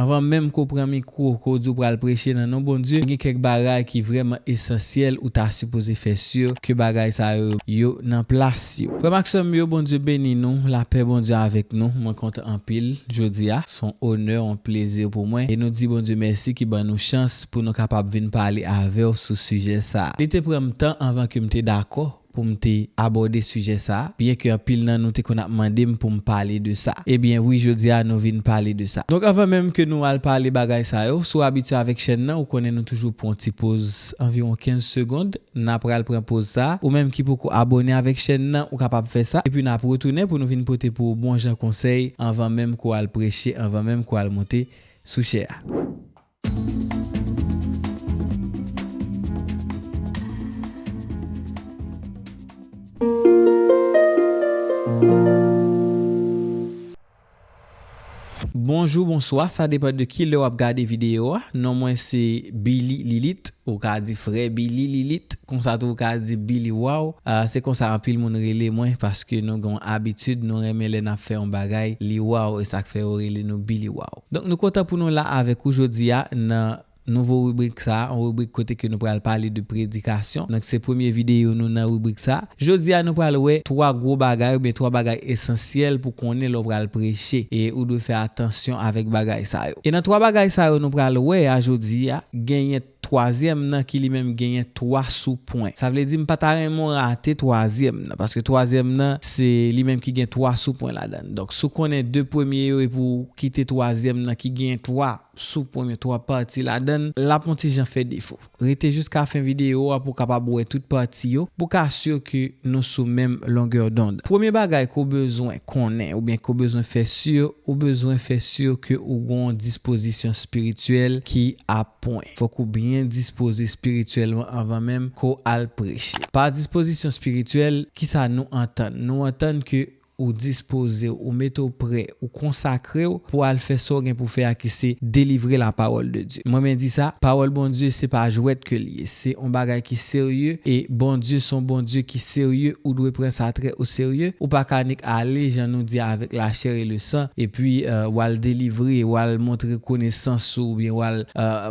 Anvan menm ke w pran mikwo ke w di w pral preche nan non Bondye, gen kèk bagay ki vrèman esansyèl ou ta sipoze fè sur ke bagay sa yo, yo nan plas yo. Frè m ak sè m yo, Bondye beni nou, lapè Bondye avèk nou. Mwen kontan anpil jodi a. S on onè, on plezi pou mwen. E nou di Bondye mèsi ki ban nou chans pou nou kapab vin pale avè w sou sijè sa a. Li te pran m tan anvan ke m te dakò pou m te abòde sijè sa a, byen ke anpil nan nou te konn ap mande m pou m pale de sa. Ebyen wi jodi a nou vin pale de sa. Donk anvan menm ke nou al pale bagay sa yo, si w abitye avèk chèn nan ou konnen nou toujou pran yon ti poz anviwon 15 segond, n a pral pran poz sa a, ou menm ki poko abòne avèk chèn nan ou kapab fè sa, epi n ap retounen pou nou vin pote pou ou bon jan konsèy anvan menm ke w al preche, anvan menm ke w al monte sou chè a. Bonjou bonswa sa depan de kilè wap gade video a non mwen se Billy Lilit ou ka di frè Billy Lilit konsa tou ou ka di Billy Waw se konsa anpil moun rele mwen paske nou gen yon abitid nou renmen lè nap fè yon bagay li waw esak fè yo rele nou Billy Waw. Donk nou kontan pou nou la avèk ou jodi a nan nouvo ribrik sa, yon ribrik kote ke nou pral pale de predikasyon. Donk se premye videyo nou nan ribrik sa. Jodi a nou pral wè 3 gwo bagay oubyen 3 bagay esansyèl pou konnen lè w pral preche e ou dwe fè atansyon avèk bagay sa yo. E nan 3 bagay sa yo nou pral wè a jodi a, genyen. Twazyèm nan ki li menm genyen 3 sou pwen. Sa vle di m pa ta renmen w rate twazyèm nan. Paske twazyèm nan se li menm ki gen 3 sou pwen ladan l. Donk si w konnen 2 premye yo epi w kite twazyèm nan ki genyen 3 sou pwen men 3 pati ladan l, l ap on ti jan fè defo. Rete jiska fen videyo a pou w kapab wè tout pati yo, pou w ka si ke nou sou menm longè dond. Premye bagay ke w bezwen konnen oubyen ke w bezwen fè si, ou bezwen fè si ke ou gen on dispozisyon espirityèl ki ap Pwen. Fòk ou byen dispoze spirityèlman anvan menm ke w al preche. Pa dispozisyon spirityèl, kisa nou antann? Nou antann ke ou dispoze w, ou mete w prè, ou konsakre w pou w al fè sa w gen pou w fè a ki se delivre lapawòl de Dye. Mwen byen di sa, pawòl Bondye se pa jwèt ke li ye. Se on bagay ki serye e Bondye son Bondye ki serye ou dwe pran sa trè o serye ou pa ka nik ale jan nou di avèk la chè e le san epi wal delivre wal montre konesans ou oubyen wal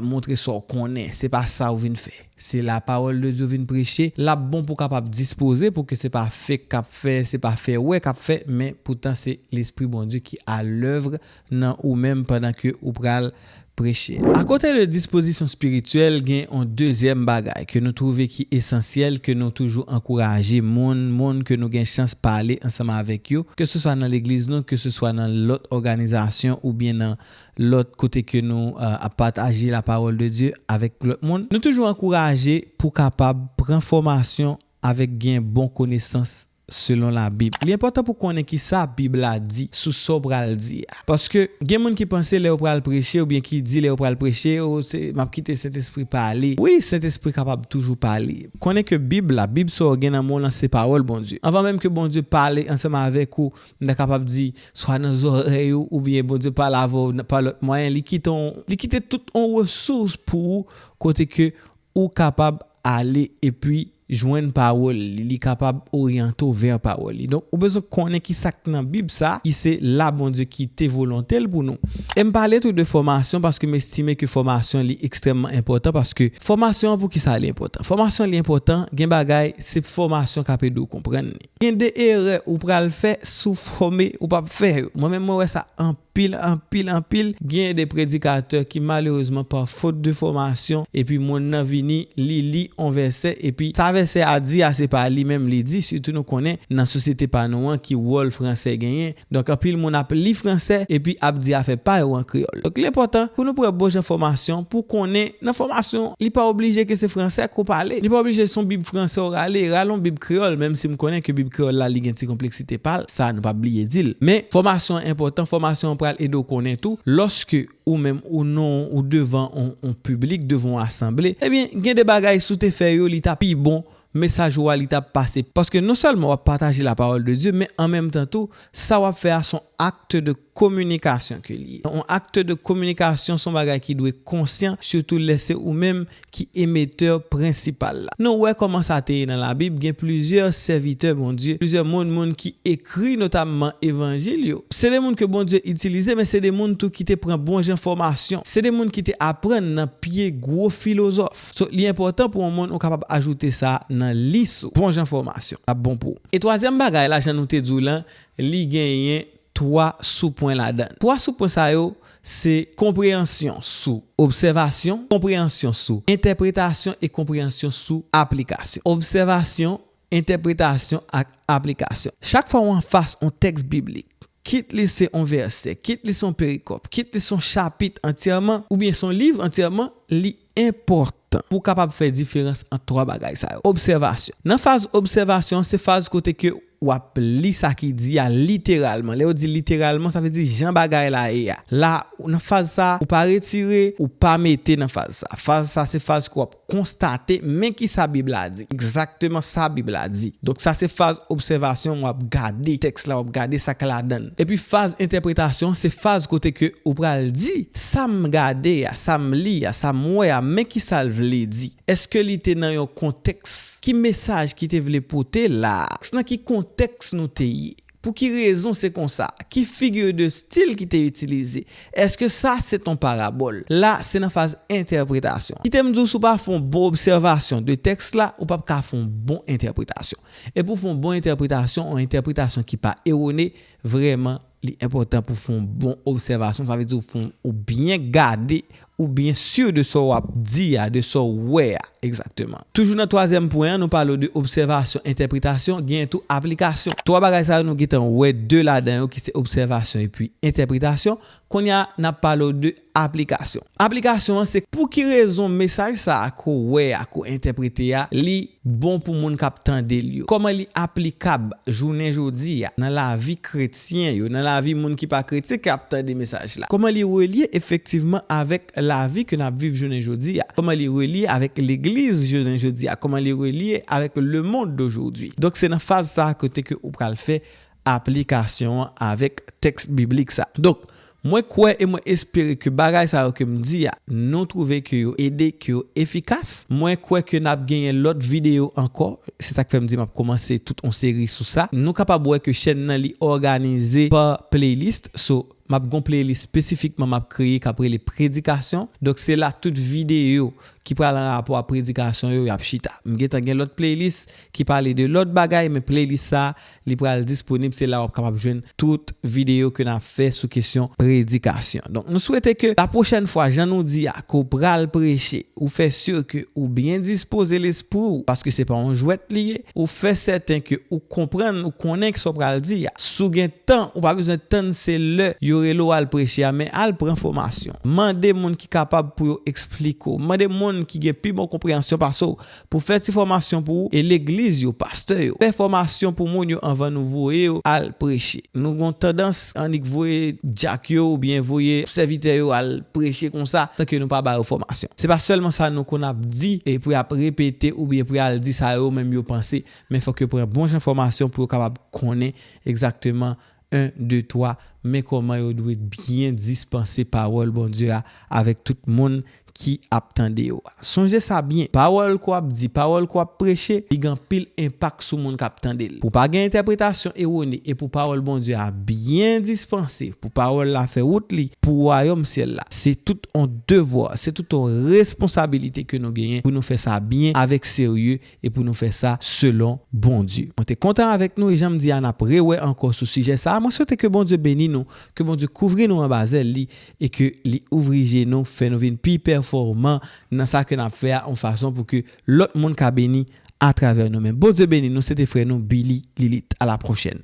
montre sa w konnen se pa sa ou vin fè se la pawòl de Dye ou vin preche lap bon pou kapab dispoze pou ke se pa fek kap fè se pa fè wè kap fè men poutan se lespri Bondye ki a lèvre nan ou menm pandan ke ou pral preche. Akote de dispozisyon spirityèl, gen yon dezyèm bagay ke nou twouve ki esansyèl ke nou toujou ankouraje moun, moun ke nou gen chans pale ansanm avèk yo, keseswa nan legliz nou, keseswa nan lòt òganizasyon oubyen nan lòt kote ke nou ap pataje lapawòl de Dye avèk lòt moun. Nou toujou ankouraje pou kapab pran fòmasyon avèk gen bon konesans Selon Labib. Li enpòtan pou w konnen ki sa Bib la di sou sa w pral di a. Paske, gen moun ki panse lè yo pral preche oubyen ki di lè yo pral preche, o, se, m ap kite Sentespri pale. Wi, Sentespri kapab toujou pale. Konnen ke Bib la, Bib sa w gen nan men w lan se Pawòl Bondye. Anvan menm ke Bondye pale ansanm avèk ou, m ta kapab di, swa nan zòrèy ou, oubyen Bondye pale avè w pa lòt mwayen, li kite yon, li kite tout yon resous pou ou kote ke Ou kapab ale epi jwenn pawòl li, li kapab oryante w vè pawòl li. Donk ou bezwen konnen ki sa k nan Bib sa ki se la Bondye ki te volonte l pou nou. E m pale tou de fòmasyon paske m estime ke fòmasyon li ekstrèmman enpòtan paske fòmasyon an poukisa li enpòtan? Fòmasyon li enpòtan gen bagay se fòmasyon k ap ede w konprann li. Gen de erè ou pral fè sou fòme ou pap fè yo. Mwen menm mwen wè sa anpil, anpil, anpil. Gen de predikatè ki malerezman pa fot de fòmasyon epi moun nan vini li li on vèsè epi sa vèsè a di a se pa li menm li di sitou nou konnen nan sosyete pa nou an ki wòl fransè genyen Donk anpil moun ap li fransè epi ap di afè pa yo an kreyòl. Donk li enpòtan pou nou pran bon jan fòmasyon pou konnen nan fòmasyon li pa oblije ke se fransè ke w pale. Li pa oblije se yon bib fransè w rale, rale yon bib kreyòl menm si m konnen ke bib kreyòl la li gen ti konpleksite pa l, sa nou pa bliye di l. Men fòmasyon an enpòtan, fòmasyon an pral ede w konnen tou lòske ou menm ou non ou devan yon piblik, devan yon asanble, ebyen gen de bagay si w te fè yo li ta pi bon mesaj ou a li tap pase paske non sèlman wap pataje la parole de Dieu men an menm tan tou sa wap fè a son acte de communication ke li ye yon acte de communication son bagay ki dwe konsyan surtout lè se ou menm ki emetteur principal la nou wè kòman sa te ye nan la bib gen plizyè sèvitè Bondye plizyè moun moun ki ekri notamman evanjil yo se de moun ke Bondye itilize men se de moun tou ki te pran bon jan fòmasyon se de moun ki te aprann nan pye gwo filozòf. So, li enpòtan pou yon moun ou kapab ajoute sa nan lis ou. Bon jan fòmasyon l ap bon pou ou. E twazyèm bagay la, jan nou te di w lan, li genyen twa soupwen ladan l. Twa soupwen sa yo se konpreyansyon sou obsèvasyon, konpreyansyon sou entèpretasyon e konpreyansyon sou aplikasyon. Obsèvasyon, entèpretasyon ak aplikasyon. Chak fwa w anfas yon tèks biblik, kit li se yon vèsè, kit li se yon perikòp, kit li se yon chapit antyèman oubyen se yon liv antyèman, li enpòtan pou w kapab fè diferans ant twa bagay sa yo. Obsèvasyon. Nan faz obsèvasyon an, se faz kote ke w ap li sa ki di a literalman. Lè yo di literalman, sa vle di jan bagay la ye a. La, nan faz sa, ou pa retire, ou pa mete nan faz sa. Faz sa se faz ke w ap konstate men kisa Bib la di. Se egzakteman sa Bib la di. Donk sa se faz obsèvasyon an w ap gade tèks la, w ap gade sa k ladan l. Epi faz entèpretasyon an se faz kote ke ou pral di, sa m gade a, sa m li a, sa m wè a, men ki sa l vle di. Èske li te nan yon kontèks? Ki mesaj ki te vle pote la a? Nan ki kontèks nou te ye? Pou ki rezon se konsa? Ki figure de style ki te itilize? Eske sa se t on parabòl? La, se nan faz entèpretasyon. Kite m di w si w pa fè yon bon obsèvasyon de tèks la, ou p ap ka fè yon bon entèpretasyon. E pou w fè yon bon entèpretasyon, yon entèpretasyon ki pa ewone, vrèman, li enpòtan pou w fè yon bon obsèvasyon, sa vle di ou fè yon, ou byen gade Ou byen sur de sa w ap di a, de sa w wè a. Exactement. Toujou nan twazyèm pwen an, nou pale w de obsèvasyon, entèpretasyon, genyen tou aplikasyon. Twa bagay sa yo nou gen tan wè de ladan yo ki se obsèvasyon epi entèpretasyon. Kounye a, n ap pale w de aplikasyon. Aplikasyon an se pou ki rezon mesaj sa a ke w wè a, ke w entèprete a, li bon pou moun k ap tande l yo? Kòman li aplikab jounen jodi a nan lavi kretyen yo, nan lavi moun ki pa kretyen ki ap tande mesaj la? Kòman li relye efektivman avèk lavi ke n ap viv jounen jodi a? Kòman li relye avèk legliz jounen jodi a? Kòman li relye avèk lemonn dojodwi? Donk se nan faz sa a kote ke ou pral fè aplikasyon an avèk tèks biblik sa a. Donk, mwen kwè e mwen espere ke bagay sa yo ke m di a, nou twouve ke yo ede, ke yo efikas. Mwen kwè ke n ap genyen lòt videyo ankò, se sa k fè m di m ap kòmanse tout yon seri sou sa. Nou kapab wè ke chèn nan li òganize pa playlist, so, m ap gen yon playlist espesifikman m ap kreye k ap rele Predikasyon. Donk, se la tout videyo ki pral an rapò a predikasyon yo, y ap chita. M gentan gen lòt playlist ki pale de lòt bagay, men playlist sa a, Li pral disponib se la wap kapab jwenn tout video ke nap fè sou kesyon predikasyon. Donk nou swete ke la pwochèn fwa jan nou di a ke w pral preche ou fè sur ke ou byen dispoze lespri w paske se pa yon jwèt li ye, ou fè sèten ke ou konprann ou konnen sa w pral di a. Si w gen tan ou pa bezwen tann se lè yo rele w al preche a men al pran fòmasyon. Mande moun ki kapab pou yo eksplike w. Mande moun ki gen pi bon konpreyansyon pase w Pou fè ti fòmasyon pou ou e legliz yo, pastè yo, fè fòmasyon pou moun yo anvan nou voye yo al preche. Nou gon tandans annik voye dyak yo oubyen voye sèvitè yo al preche konsa san ke nou pa ba yo fòmasyon. Se pa sèlman sa nou konn ap di e pou yap repete oubyen pou yal di sa yo menm yo panse men fòk yo pran bon jan fòmasyon pou yo kapab konnen egzakteman 1, 2, 3, Men kòman yo dwe byen dispanse pawòl Bondye a avèk tout moun ki ap tande yo. Sonje sa byen, pawòl ke w ap di, pawòl ke w ap preche, li gen anpil enpak sou moun k ap tande l. Pou pa gen entèpretasyon ewone e pou pawòl Bondye a byen dispanse, pou pawòl la fè wout li pou wayòm syèl la, se tout on devwa, se tout on responsabilite ke nou genyen pou nou fè sa byen, avèk serye E pou nou fè sa selon Bondye. Mwen te kontan avèk nou e jan m di a n ap rewè ankò sou sijè sa a. Mwen swete ke Bondye beni nou, ke Bondye kouvri nou anba zèl li e ke li ouvri je nou, fè nou vin pi pèfòman nan sa ke n ap fè a yon fason pou ke lòt moun ka beni atravè nou menm. Bondye beni nou, se te frè nou Billy Lilith. A la pwochèn.